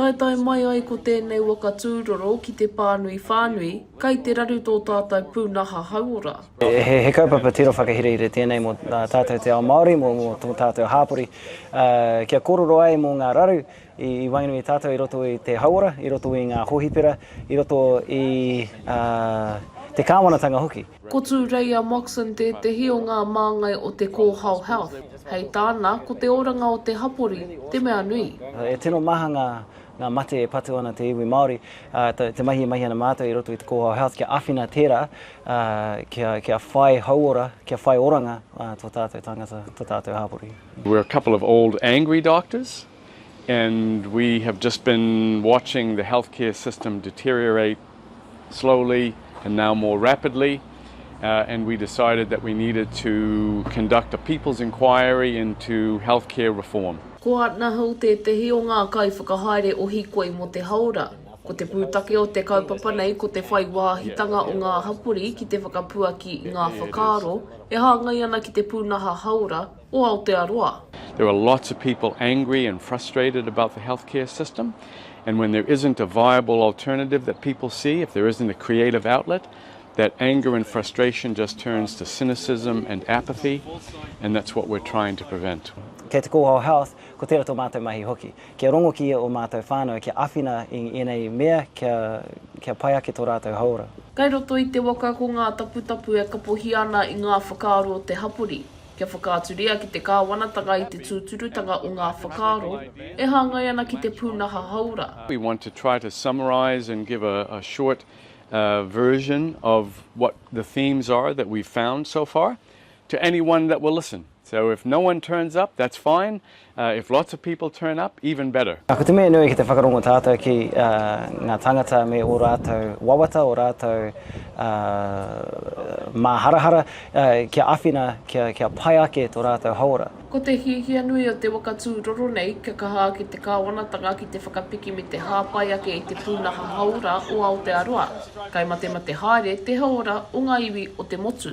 Taetae mai ai ko tēnei waka tūroro ki te pānui whānui, kai te raru tō tātau pūnaha hauora. He kaupapa tiro whakahirahira tēnei mō tātau te ao Māori, mō tō tātau hāpori, kia kōrero ai mō ngā raru i waenganui i tātau i roto i te hauora, i roto i ngā hōhipera, i roto i te kāwanatanga hoki. Ko Tūreia Moxon tētehi o ngā māngai o te Kōhao Health. Hei tāna, ko te oranga o te hapori te mea nui. E tino maha ngā ngā mate e patu ana te iwi Māori, ā, te mahi e mahi ana mātou i roto i te Kōhao Health kia āwhina tērā, ā, kia, kia whai hauora, kia whai oranga tō tātou tāngata, tō tātou hapori. We're a couple of old angry doctors and we have just been watching the healthcare system deteriorate. slowly and now more rapidly and we decided that we needed to conduct a people's inquiry into healthcare reform. Ko Arna Hill tētehi o ngā kaiwhakahaere o Hikoi mō te Hāora. Ko te pūtake o te kaupapa nei ko te whai wāhitanga o ngā hapori ki te whakapuaki i ngā whakaaro e hāngai ana ki te pūnaha hāora, o Aotearoa. There are lots of people angry and frustrated about the health care system and when there isn't a viable alternative that people see, if there isn't a creative outlet, that anger and frustration just turns to cynicism and apathy and that's what we're trying to prevent. Kei te kōhao health, ko tērā tō mātou mahi hoki. Kia rongo ki ia o mātou whānau, kia awhina i ēnei mea kia, kia pai ake tō rātou hauora. Kei roto i te waka ko ngā taputapu e kapohia ana i ngā whakaaro o te hapori. kia whakaaturia ki te Kāwanatanga i te tūturutanga o ngā whakaaro e hāngai ana ki te pūnaha hāora. We want to try to summarise and give a short version of what the themes are that we've found so far to anyone that will listen. So if no one turns up, that's fine, If lots of people turn up, even better. Ko te mea nui ki te whakarongo tātou ki ngā tāngata me ō rātou wawata, ō rātou māharahara, kia āwhina kia pai ake tō rātou hauora. Ko te hiahia nui o te waka tūroro nei, kia kaha ake te kāwanatanga ki te whakapiki me te hāpai ake i te pūnaha hauora o Aotearoa. Kai matemate haere te hauora o ngā iwi o te motu.